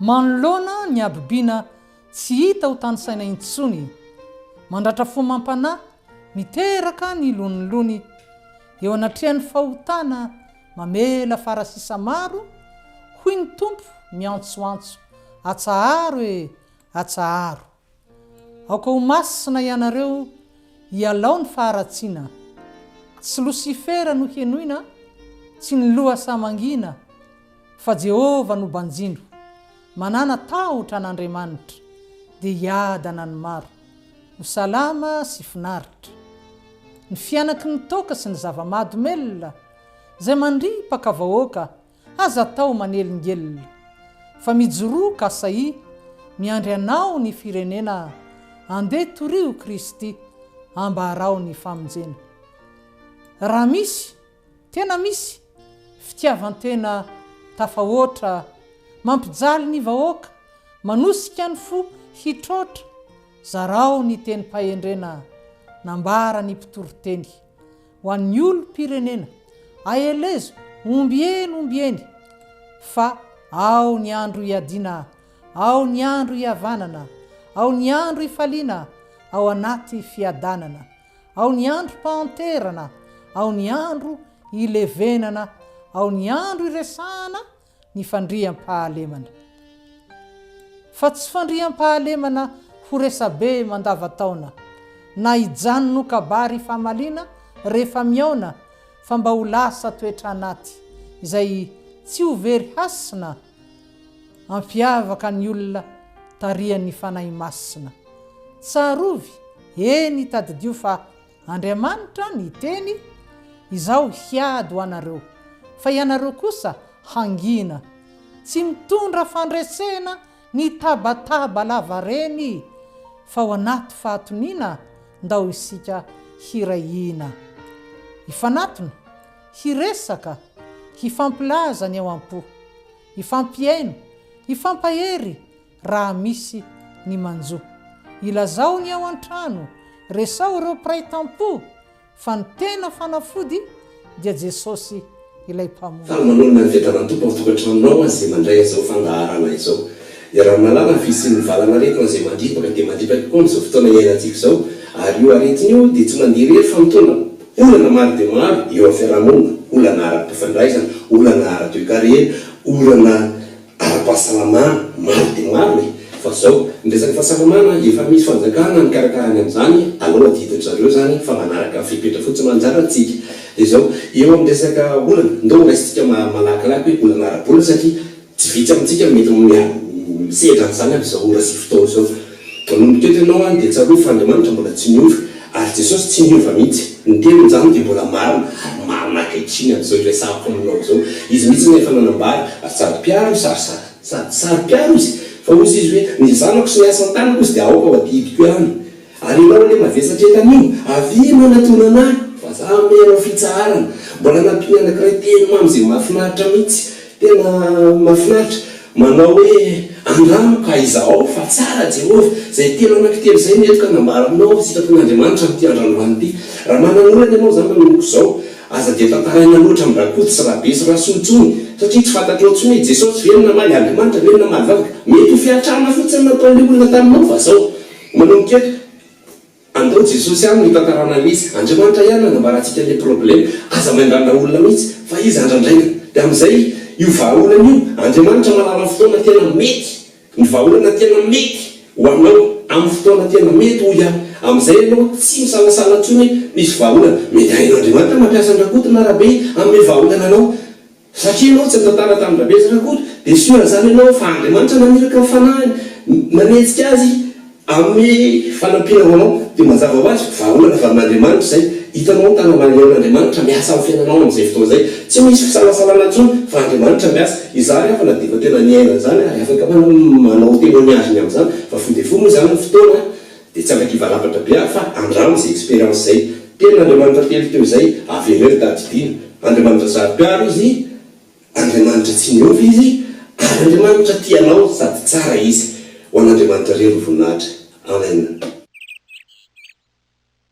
Manoloana ny habibiana tsy hita ho tanisaina intsony, mandratra fo mampanahy miteraka ny lonilony, eo anatrehan'ny fahotana mamela fara sisa maro, hoy ny Tompo miantsoantso, Atsaharo e! Atsaharo! Aoka ho masina ianareo hialao ny faharatsiana, tsy Losifera no henoina, tsy ny loha saha mangina, fa Jehovah no banjino, manana tahotra an'Andriamanitra, dia hiadana ny maro, ho salama sy finaritra. Ny fianaky ny toaka sy ny zava-mahadomelina, izay mandripaka vahoaka Aza atao manelingelina fa mijoroa ka sahia miandry anao ny firenena andeha torio Kristy ambarao ny famonjena raha misy tena misy fitiavantena tafahoatra mampijaly ny vahoaka manosika ny fo hitroatra zarao ny tenim-pahendrena nambaran'ny mpitoriteny Ho an'ny olom-pirenena, aelezo ombieny ombieny fa ao ny andro iadiana, ao ny andro ihavanana, ao ny andro ifaliana ao anaty fiadanana, ao ny androm-pahanterana, ao ny andro ilevenana, ao ny andro iresahana ny fandriampahalemana fa tsy fandriampahalemana ho resabe mandavataona na hijanona ho kabary famaliana rehefa mihaona fa mba ho lasa toetra anaty izay tsy ho very hasina ampiavaka ny olona tarihan'ny Fanahy Masina. Tsarovy, eny tadidio fa. Andriamanitra niteny, Izaho hiady ho anareo, fa ianareo kosa hangina. Tsy mitondra fandresena ny tabataba lavareny, fa ao anaty fahatoniana ndao isika hiray hina. Hifanatona, hiresaka, hifampilaza ny ao am-po, hifampihaino, hifampahery, raha misy ny manjo. Ilazao ny ao an-trano, resaho ireo mpiray tampo fa ny tena fanafody dia Jesosy ilay Mpamonjy. Fa manoloana ny fiadanan'ny Tompo ao tokantranonao aza izay mandray an'izao fandaharana izao. Iaraha milalao amin'ny fisian'ny valanaretina izay mandripaka dia mandripaka tokoa amin'izao fotoana iainantsika izao, ary io aretina io dia tsy mandeha irery fa mitondra olana maro dia maro eo amin'ny fiarahamonina, olana ara-pifandraisana, olana ara-toekarena, olana. ara-pahasalamana, maro dia maro e! Fa zao, ny resaka fahasalamana, efa misy fanjakana mikarakara ny amin'izany, aleo adidin-dry zareo zany fa manaraka fepetra fotsiny manjary antsika. Dia zao, eo amin'ny resaka olana, ndao horaisintsika malakilaky hoe olana ara-bola satria tsy vitsy amintsika mety misehatra an'izany amin'izao ora sy fotoana izao. Vao nomboka eto ianao any dia tsarovy fa Andriamanitra mbola tsy niova ary Jesosy tsy niova mihitsy. Ny teny njany dia mbola marina ary marina ankehitriny amin'izao iresahako aminao izao. Izy mihitsy no efa nanambara ary sady mpiaro izy ary sady. Sady sady mpiaro izy. Fa hozy izy hoe, Ny zanako sy ny asa an-tanako izy dia aoka ho adihidiko ihany. Ary ianao anie mavesatra eto anio, avia ianao natonana ahy. Fa za hanome anao fitsaharana. Mbola nampiany anankiray teny mamy izay mahafinaritra mihitsy. Tena mafinaritra. Manao hoe andramo ka izahao fa tsara Jehovah. Izay telo anankitelo izay no entiko hanambara aminao ny sitrapon'Andriamanitra amin'ity andranolana ity. Raha manana olana ianao izany manomboka izao, aza dia tantaraina loatra amin'ny rakoto sy rabe sy rasoa intsony, satria tsy fantatrao intsony hoe Jesosy ve no namaly Andriamanitra ve no namaly vavaka. Mety ho fiantrana fotsiny nataon'ilay olona taminao fa izao. Manomboka eto. Andao Jesosy any no hitantarana mihitsy. Andriamanitra ihany nanambara antsika le problème. Aza miandrandra olona mihitsy fa izy andrandraina. De amin'izay io vahaolana io Andriamanitra mahalala ny fotoana tena mety ny vahaolana tena mety ho anao amin'ny fotoana tena mety hoy aho. Amin'izay ianao tsy misalasala intsony hoe hisy vahaolana. Mety hain'Andriamanitra mampiasa an-dRakoto na Rabe hanome vahaolana anao. Satria ianao tsy nitantara tamin-dRabezatra akory, dia soa raha izany ianao fa Andriamanitra naniraka ny Fanahiny, nanejika Azy amin'ny fanampiana ho anao. Dia mazava ho azy, vahaolana avy amin'Andriamanitra izay. Hitanao ny tanan'Andriamanitra miasa amin'ny fiainanao amin'izay fotoana izay. Tsy misy fisalasalana intsony fa Andriamanitra miasa. Izaho ary hafa na dia efa tena niaina an'izany ary afaka manao témoignage-ny amin'izany fa fohy dia fohy moa izany ny fotoana, Dia tsy handoa kiva lafatra be aho fa andramo izay expérience izay. Tenin' Andriamanitra telo teo izay, avereo tadidiana. Andriamanitra saro-piaro Izy, Andriamanitra tsy miova Izy, ary Andriamanitra tia anao sady tsara Izy. Ho an' Andriamanitra irery ny voninahitra. Amen.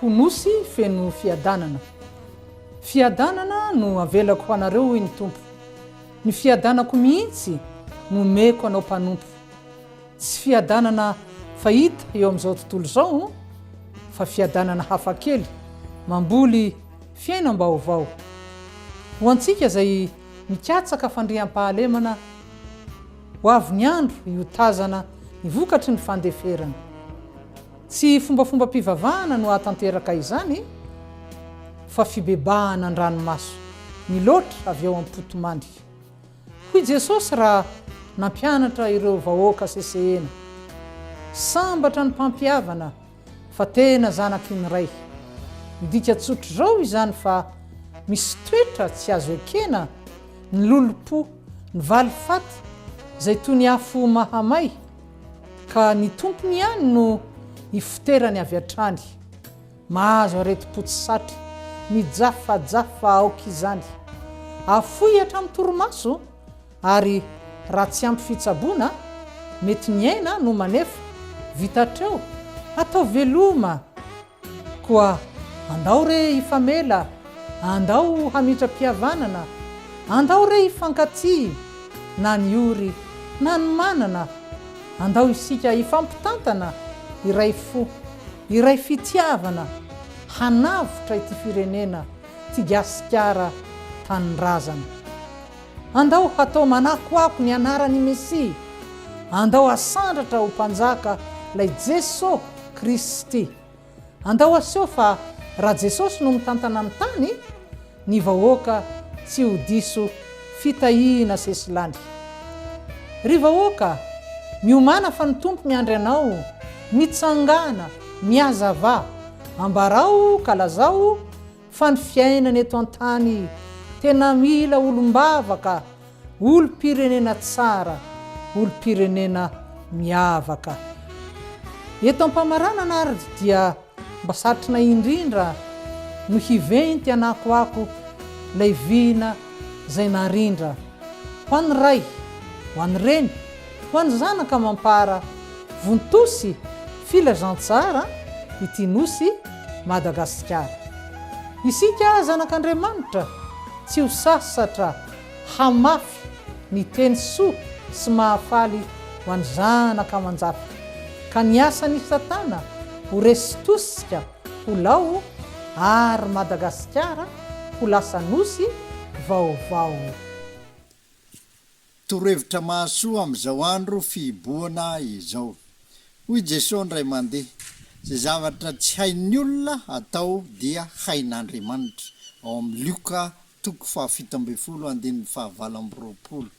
Ho nosy feno fiadanana. Fiadanana no avelako ho anareo, hoy ny Tompo. Ny fiadanako mihitsy no omeko anao mpanompo. Tsy fiadanana fahita eo amin'izao tontolo izao, fa fiadanana hafakely, mamboly fiainam-baovao. Ho antsika izay mikatsaka fandriampahalemana, ho avy ny andro hiotazana ny vokatry ny fandeferana. Tsy fombafombam-pivavahana no hahatanteraka izany fa fibebahana an-dranomaso miloatra avy ao am-potomandika. Hoy Jesosy raha nampianatra ireo vahoaka sesehena, Sambatra ny mpampihavana fa tena zanaky ny Ray. Midika tsotr'izao izany fa misy toetra tsy azo ekena ny lolompo, ny valifaty izay toy ny afo mahamay. Ka ny tompony ihany no ifoterany avy hatrany. Mahazo aretim-po tsy satry, mijafajafa aoka izany. Afoy hatramin'ny torimaso, ary raha tsy ampy fitsaboana, mety ny aina no manefa. Vita hatreo? Atao veloma! Koa andao re hifamela, andao hamitram-pihavanana, andao re hifankatia, na ny ory na ny manana, andao isika hifampitantana, iray fo, iray fitiavana, hanavotra ity firenena, 'ty Gasikara tanindrazana. Andao hatao manakoako ny anaran'i Mesia, andao hasandratra ho Mpanjaka lay Jeso Kristy. Andao haseho fa raha Jesosy no mitantana ny tany, ny vahoaka tsy ho diso fitahiana sesilany. Ry vahoaka, miomàna fa ny Tompo miandry anao, mitsangàna, mihazavà, ambarao ka lazao Fa ny fiainana eto an-tany tena mila olom-bavaka, olom-pirenena tsara, olom-pirenena miavaka. Eto am-pamaranana ary dia mba satrina indrindra no hiventy hanakoako ilay vina izay narindra. Ho an'ny ray, ho an'ny reny, Ho an'ny zanaka mampara vonto-sy filazantsara ity nosy Madagasikara. Isika zanak'Andriamanitra tsy ho sasatra hamafy ny teny soa sy mahafaly ho an'ny zanaka aman-jafy, ka ny asan'i Satana ho resy tosika ho lao ary Madagasikara ho lasa nosy vaovao. Torohevitra mahasoa amin'izao andro fihibohana izao. Hoy Jesoa indray mandeha, Izay zavatra tsy hain'ny olona atao dia hain'Andriamanitra, ao amin'ny Lioka toko fahafito ambin'ny folo andininy fahavalo amby roapolo.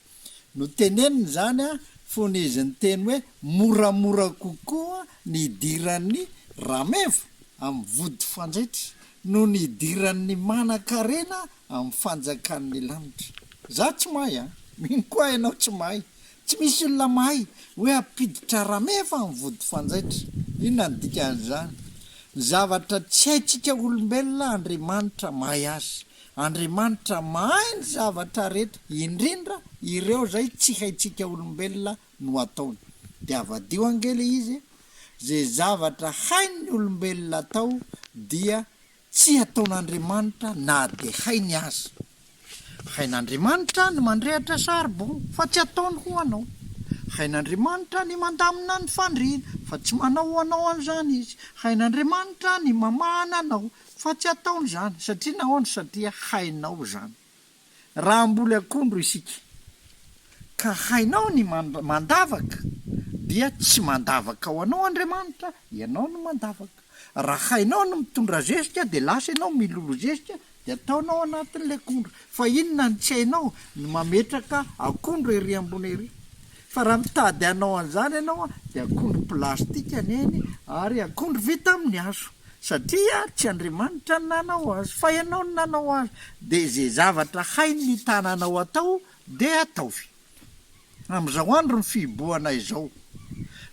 Noteneniny izany fony izy niteny hoe moramora kokoa ny hidiran'ny rameva amin'ny vody fandrehitra noho ny hidiran'ny manankarena amin'ny fanjakan'ny lanitra. Za tsy mahay a! Mino koa ianao tsy mahay. Tsy misy olona mahay hoe hampiditra rameva amin'ny vody fanjaitra. Inona ny dikan'izany? Ny zavatra tsy haintsika olombelona Andriamanitra mahay azy. Andriamanitra mahay ny zavatra rehetra, indrindra ireo izay tsy haintsika olombelona no ataony. Dia avadiho ange le izy e! Ze zavatra hain'ny olombelona atao dia Tsy ataon'Andriamanitra na dia hainy aza. Hain'Andriamanitra ny mandrehitra charbon fa tsy ataony ho anao. Hain'Andriamanitra ny mandamina ny fandriana fa tsy manao ho anao an'izany Izy. Hain'Andriamanitra ny mamahana anao fa tsy ataony izany. Satria nahoana? Satria hainao izany. Raha mboly akondro isika, ka hainao ny mandavaka, dia tsy mandavaka ho anao Andriamanitra, ianao no mandavaka. Raha hainao ny mitondra zezika, dia lasa ianao milolo zezika, dia ataonao anatin'ilay akondro. Fa inona no tsy hainao? Ny mametraka akondro ery ambony ery. Fa raha mitady hanao an'izany ianao, dia akondro plastika ny ainy, ary akondro vita amin'ny hazo. satria tsy Andriamanitra no nanao azy fa ianao no nanao azy dia izay zavatra hain ny tananao atao dia ataovy amin'izao andro ny fihibohana izao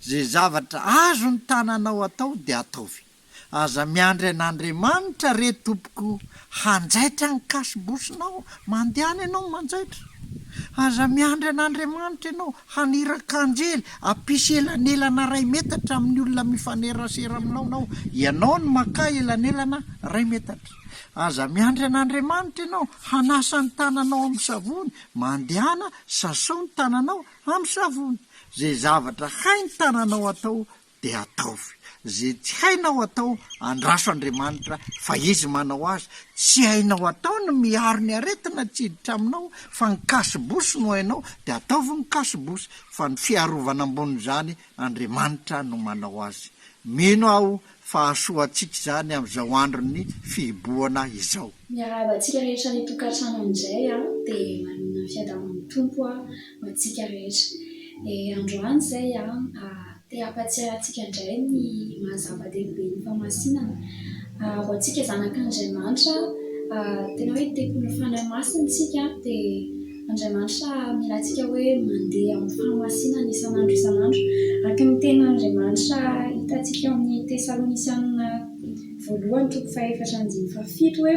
izay zavatra azon ny tananao atao dia ataovy aza miandry an'Andriamanitra re tompoko Hanjaitra ny kasibosinao, mandehana ianao manjaitra. Aza miandry an'Andriamanitra ianao, haniraka anjely hampisy elanelana iray metatra amin'ny olona mifanerasera aminao, ianao no makà elanelana iray metatra. Aza miandry an'Andriamanitra ianao, hanasa ny tananao amin'ny savony, mandehana sasao ny tananao amin'ny savony. Izay zavatra hain'ny tananao atao dia ataovy ze tsy hainao atao andraso Andriamanitra fa izy manao azy tsy hainao atao ny miaro ny aretina tsy hiditra aminao fa ny cache bouche no hainao dia ataovy ny cache bouche fa ny fiarovana ambonin'izany Andriamanitra no manao azy mino aho fa hahasoa antsika izany amin'izao andron'ny fihibohana izao. Miarahaba antsika rehetra any an-tokantrano amin'izay a, dia manana ny fiadaban'ny Tompo aho ho antsika rehetra. Dia androany izay te hampatsiahy antsika indray ny maha zava-dehibe ny famasinana. Ho antsika zanak'Andriamanitra tena hoe tempolin'ny Fanahy Masina isika dia Andriamanitra mila antsika hoe mandeha amin'ny fahamasinana isan'andro isan'andro. Araka ny tenin'Andriamanitra hitantsika ao amin'ny Tesalonisianina voalohany toko fahefatra andininy fahafito hoe.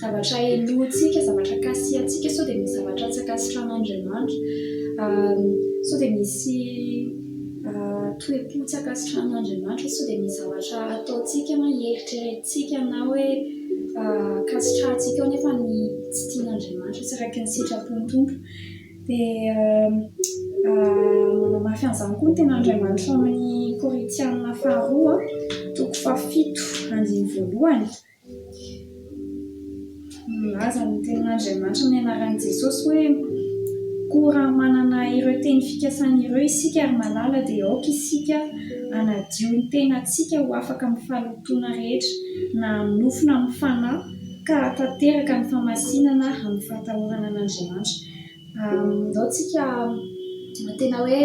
Zavatra helohintsika, zavatra kasihantsika, sao dia misy zavatra tsy ankasitran'Andriamanitra, sao dia misy toe-po tsy ankasitran'Andriamanitra, sao dia misy zavatra ataontsika na eritreretintsika na hoe ankasitrahantsika ao nefa ny tsy tian'Andriamanitra, tsy araka ny sitrapon'ny Tompo. Dia manamafy an'izany koa ny tenin'Andriamanitra ao amin'ny Korintiana faharoa, toko fahafito, andininy voalohany. Nilaza ny Tenin'Andriamanitra ny anaran'i Jesosy hoe, Koa raha manana ireo teny fikasany ireo isika ry malala dia aoka isika hanadio ny tenantsika ho afaka amin'ny fahalotoana rehetra na amin'ny nofo na amin'ny fanahy ka hahatanteraka ny famasinana amin'ny fahatahorana an'Andriamanitra. Andao tsika tena hoe.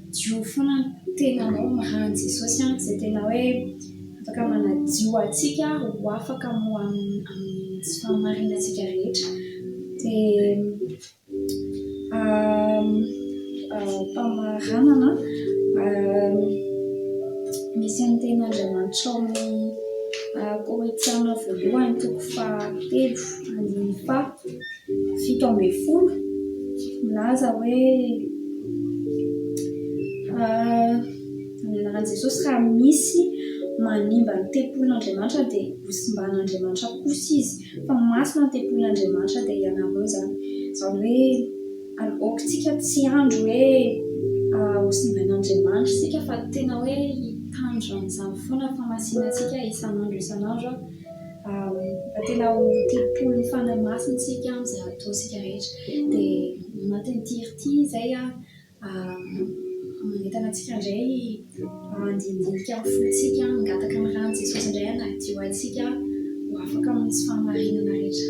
Diovy foana ny tenanao mahan'i Jesosy an, izay tena hoe afaka manadio antsika ho afaka ho amin'ny tsy fahamarinantsika rehetra. Dia famaranana misy ny tenin'Andriamanitra ao amin'ny Korintiana voalohany toko fahatelo andininy faha. fito ambin'ny folo milaza hoe amin'ny anaran'i Jesosy raha misy manimba ny tempolin'Andriamanitra dia ho simban'Andriamanitra kosa izy fa masina ny tempolin'Andriamanitra dia ianareo izany izany hoe aokantsika tsy andry hoe ho simban'Andriamanitra isika fa tena hoe hitandro an'izany foana fahamasinan-tsika isan'andro isan'andro Raha tena ho tempolin'ny Fanahy Masina isika amin'izay ataontsika rehetra, dia anatin'ity hery ity izay manentana antsika indray handinidinika ny fontsika, hangataka ny ran'i Jesosy indray hanadio azy isika ho afaka mamonjy fahamarinana rehetra.